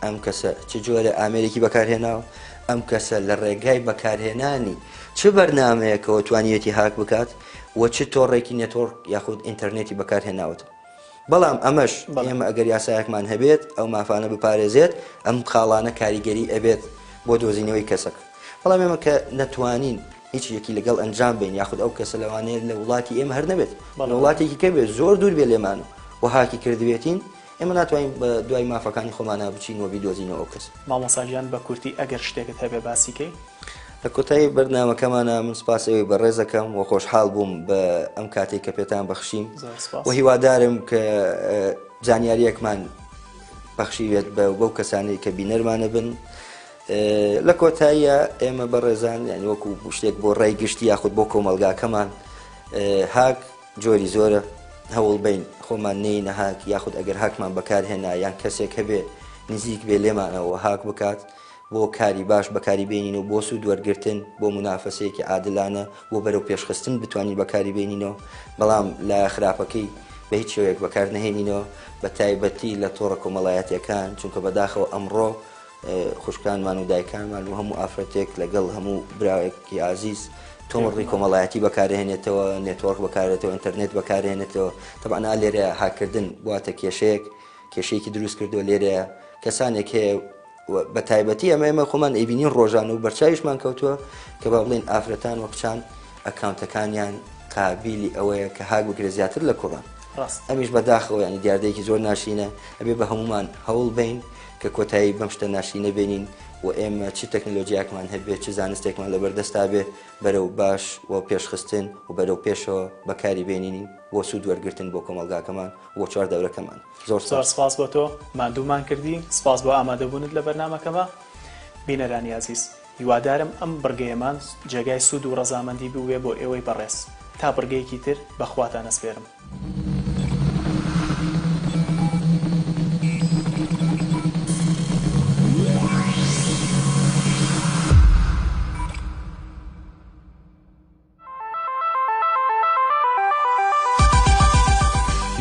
ئەم کەسە چ جۆرە ئامێرێکی بەکارهێناوە ئەم کەسە لە ڕێگای بەکارهێنانی چ بەرنمەیەکەوە توانیوێتی هاک بکات و چ تۆڕێکی نێتۆرک یاخود ئینتەرنێتی بەکارهێناوەتەوە. بەڵام ئەمەش ئێمە ئەگەر یاسایەکمان هەبێت ئەو مافانە بپارێزێت ئەم خاڵانە کاریگەری ئەبێت بۆ دۆزینەوەی کەسەکە بەڵام ئێمە کە نەتوانین هیچ یەکی لەگەڵ ئەنجام بین یاخود ئەو کەسە لەوانەیە لە وڵاتی ئێمە هەر نەبێت بەڵ وڵاتێکی کە بێت زۆر دوور بێ لێمان و هاکی کردبێتین ئێمە ناتوانین بە دوای مافەکانی خۆمانە بچین و بیدۆزینەوە ئەو کەس مامۆساگیان بە کورتی ئەگەر شتێکت هەبێ باسیکەی لە کۆتایی بەرنامەکەمانا من سپاس ئێوەی بەڕێز دەکەم و خۆشحاڵ بووم بە ئەم کاتێک کە پێتان بەخشیم زۆر سپاس. و هیوادارم کە ئە، زانیارییەکمان بەخشیوێت بە بەو کەسانەی کە بینەرمانە بن ئە، لە کۆتاییا ئێمە بەڕێزان یانی وەکو شتێک بۆ ڕای گشتی یاخود بۆ کۆمەڵگاکەمان ئە، هاک جۆری زۆرە هەوڵبەین خۆمان نێینە هاک یاخود ئەگەر هاکمان بەکارهێنا یان کەسێک هەبێ نزیک بێ لێمانەوە هاک بکات بۆ کاری باش بەکاری بێنینەوە، بۆ سوود وەرگرتن، بۆ مونافەسەیەکی عادلانە، بۆ بەرەو پێشخستن بتوانین بەکاری بێنینەوە، بەڵام لایە خراپەکەی بە هیچ شێوەیەک بەکار نەهێنینەوە، بە تایبەتی لە تۆڕە کۆمەڵایەتیەکان، چونکە بەداخەوە ئەمڕۆ خوشکانمان و دایکانمان و هەموو ئافرەتێک لەگەڵ هەموو براوێکی ئازیز تۆمڕی کۆمەڵایەتی بەکارهێنێتەوە، نێتۆرک بەکارێتەوە، ئینتەرنێت بەکارهێنێتەوە، تەبعەن ئا لێرەیە هاککردن بواتە کێشەیەک، کێشەیەکی دروست کردووە، لێرەیە کەسانێک هەیە، و بە تایبەتی ئەمە ئێمە خۆمان ئەیبینین ڕۆژانە و بەرچاویشمان کەوتووە کە با بڵێن ئافرەتان و کچان ئەکاونتەکانیان قابلی ئەوەیە کە هاک بگرێت زیاتر لە کوڕان ڕاست ئەمیش بەداخەوە ینی دیاردەیەکی زۆر ناشینە ئەبێ بە هەمومان هەوڵ بین کە کۆتایی بەم شتە ناشینە بینین و ئێمە چ تەکنلۆژیاکمان هەبێت چ زانستێکمان لەبەردەستا بێ بەرەو باش و پێشخستن و بەرەو پێشەوە بەکاری بێنینی بۆ سوود وەرگتن بۆ کۆمەلگاکەمان بۆ چوار دەورەکەمان زۆر سپاس. زۆر سپاس بۆ تۆ ماندوومان کردی سپاس بۆ ئامادەبوونت لە بەرنامەکەمە بینەرانی ئازیز هیوادارم ئەم بڕگەیەمان جێگای سوود و ڕەزامەندی بووبێ بۆ ئێوەی بەڕێز تا بڕگەیەکی تر بە خواتان ئەسپێرم.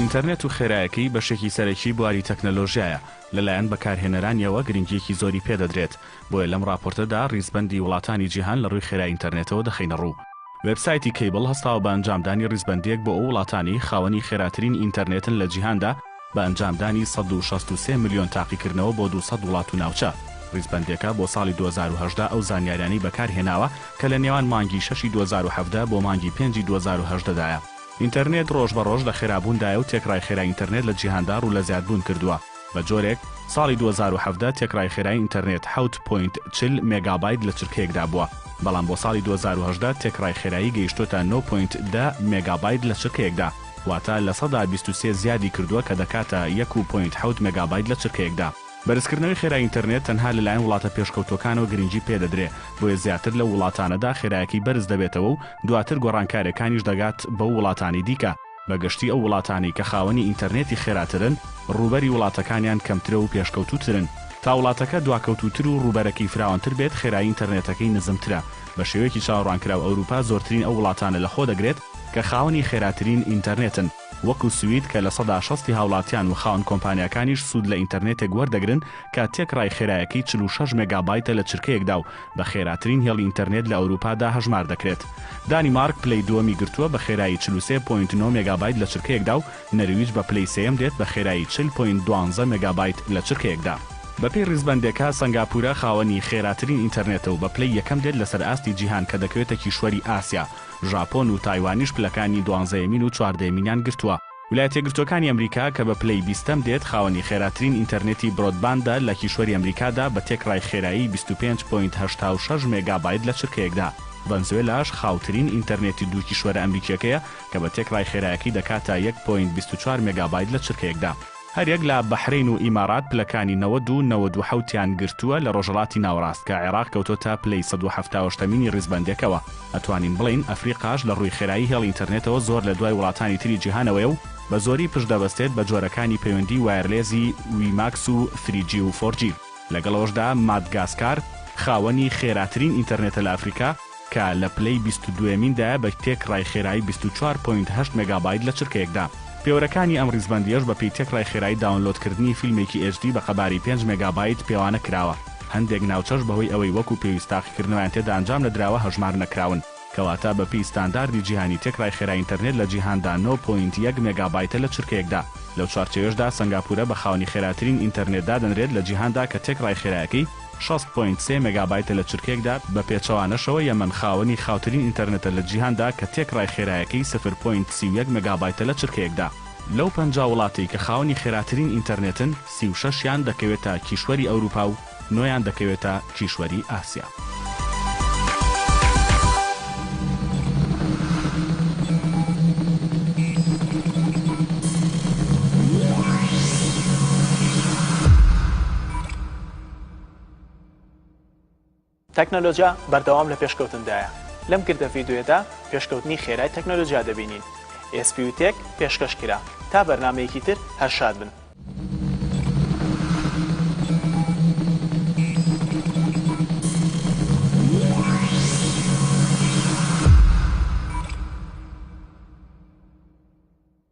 ئینتەرنێت و خێرایەکەی بەشێکی سەرەکی بواری تەکنەلۆژیایە لەلایەن بەکارهێنەرانیەوە گرنگیەکی زۆری پێدەدرێت بۆیە لەم ڕاپۆرتەدا ڕیزبەندی وڵاتانی جیهان لە ڕووی خێرای ئینتەرنێتەوە دەخینە ڕوو. وێبسایتی کەیبڵ هەستاوە بە ئەنجامدانی ڕیزبەندیەک بۆ ئەو وڵاتانەی خاوەنی خێراترین ئینتەرنێتن لە جیهاندا، بە ئەنجامدانی سەد و شەست و سێ ملیۆن تاقیکردنەوە بۆ دوو سەد وڵات و ناوچە. ریزبەندییەکە بۆ ساڵی دوو هەزار و هەژدە ئەو زانیاریانەی بەکارهێناوە کە لە نێوان مانگی شەشی دوو هەزار و حەڤدە بۆ مانگی پێنجی دوو هەزار و هەژدە دایە. ئینتەرنێت ڕۆژ بە ڕۆژ لە خێرابووندایە و تێکڕای خێرای ئینتەرنێت لە جیهاندا ڕوو لە زیادبوون کردووە بە جۆرێک، ساڵی دوو هەزار و حەڤدە تێکڕای خێرای ئینتەرنێت حەوت پۆینت چل مێگابایت لە چرکەیەکدا بووە، بەڵام بۆ ساڵی دوو هەزار و هەژدە تێکڕای خێرایی گەیشتووەتە نۆ پۆینت دە مێگابایت لە چرکەیەکدا. واتە لە سەدا بیست و سێ زیادی کردووە کە دەکاتە یەک و پۆینت حەوت مێگابایت لە چرکەیەکدا. بەرزکردنەوەی خێرای ئینتەرنێت تەنها لەلایەن وڵاتە پێشکەوتووەکانەوە گرنگی پێدەدرێ، بۆیە زیاتر لەو وڵاتانەدا خێرایەکەی بەرز دەبێتەوە و دواتر گۆڕانکارییەکانیش دەگات بەو وڵاتانی دیکە، بە گشتی ئەو وڵاتانەی کە خاوەنی ئینتەرنێتی خێراترن ڕووبەری وڵاتەکانیان کەمترە و پێشکەوتووترن، تا وڵاتەکە دواکەوتووتر و ڕووبەرەکەی فراوانتر بێت خێرایی ئینتەرنێتەکەی نزمترە، بە شێوەیەکی چاوەڕوانکراو ئەوروپا زۆرترین ئەو وڵاتانە لەخۆ دەگرێت، کە خاوەنی خێراترین ئینتەرنێتن وەکو سوید کە لە سەدا شەستی هاوڵاتیان و خاوەن کۆمپانیاکانیش سوود لە ئینتەرنێتێک وەردەگرن کە تێکڕای خێرایەکەی چل و شەش مێگابایتە لە چرکەیەکدا و بە خێراترین هێڵی ئینتەرنێت لە ئەوروپادا هەژمار دەکرێت. دانیمارک پلەی دووەمی گرتووە بە خێرایی چل و سێ پۆینت نۆ مێگابایت لە چرکەیەکدا و نەرویج بە پلەی سێیەم دێت بە خێرایی چل پۆینت دوانزە مێگابایت لە چرکەیەکدا. بەپێی ڕیزبەندێکە سەنگاپورە خاوەنی خێراترین ئینتەرنێتە و بە پلەی یەکەم دێت لەسەر ئاستی جیهان کە دەکەوێتە کیشوەری ئاسیا ژاپۆن و تایوانیش پلەکانی دوانزەیەمین و چواردەیەمینیان گرتووە. ولایەتە یەکگرتووەکانی ئەمریکا کە بە پلەی بیستەم دێت، خاوەنی خێراترین ئینتەرنێتی برۆدباندە لە کیشوەری ئەمریکادا بە تێکڕای خێرایی بیست و پێنج پۆینت هەشتا و شەش مێگابایت لە چرکەیەکدا. ڤەنزوێلاش خاوترین ئینتەرنێتی دوو کیشوەرە ئەمریکییەکەیە کە بە تێکڕای خێرایەکەی دەکاتە یەک پۆینت بیست و چوار مێگابایت لە چرکەیەکدا. هەریەک لە بەحرەین و ئیمارات پلەکانی نەوەد و نەوەد و حەوت یان گرتووە لە ڕۆژهەڵاتی ناوەڕاست کە عێراق کەوتۆتە پلەی سەد و حەفتا و هەشتەمینی ڕیزبەندەکەوە ئەتوانین بڵێین ئەفریقاش لە ڕووی خێرایی هێڵی ئینتەرنێتەوە زۆر لە دوای وڵاتانی تری جیهانەوەیە و بە زۆری پشت دەبەستێت بە جۆرەکانی پەیوەندی وایەرلێزی وی ماکس و ثری جی و فۆر جی لەگەڵ ئەوەشدا مادگاسکار خاوەنی خێراترین ئینتەرنێتە لە ئەفریقا. کە لە پلەی بیست و دووەمیندایە بە تێکڕای خێرایی بیست و چوار پۆینت هەشت مێگابایت لە چرکەیەکدا. پێوەرەکانی ئەم ڕیزبەندییەش بەپێی تێکڕای خێرایی داونلۆدکردنی فیلمێکی ئێچ دی بە قەبارەی پێنج مێگابایت پێوانە کراوە، هەندێک ناوچەش بەهۆی ئەوەی وەکو پێویست تاقیکردنەوەیان تێدا ئەنجام نەدراوە هەژمار نەکراون، کەواتە بەپێی ستانداردی جیهانی تێکڕای خێرای ئینتەرنێت لە جیهاندا نۆ پۆینت یەک مێگابایتە لە چرکەیەکدا، لەو چوارچێوەشدا سەنگاپورە بە خاوەنی خێراترین ئینتەرنێت دادەنرێت لە جیهاندا کە تێکڕای خێرایەکەی شەست پۆینت سێ مێگابایتە لە چرکەیەکدا، بە پێچەوانەشەوە یەمەن خاوەنی خاوترین ئینتەرنێتە لە جیهاندا کە تێکڕای خێرایەکەی سفر پۆینت سی و یەک مێگابایتە لە چرکەیەکدا. لەو پەنجا وڵاتەی کە خاوەنی خێراترین ئینتەرنێتن، سی و شەش یان دەکەوێتە کیشوەری ئەوروپا و نۆ یان دەکەوێتە کیشوەری ئاسیا. تەکنەلۆجیا بەردەوام لە پێشکەوتندایە، لەم گردە ڤیدیۆیەدا پێشکەوتنی خێرای تەکنەلۆجیا دەبینین. ئێسپیو تێک پێشکەش کرا. تا بەرنامەیەکی تر هەر شاد بن.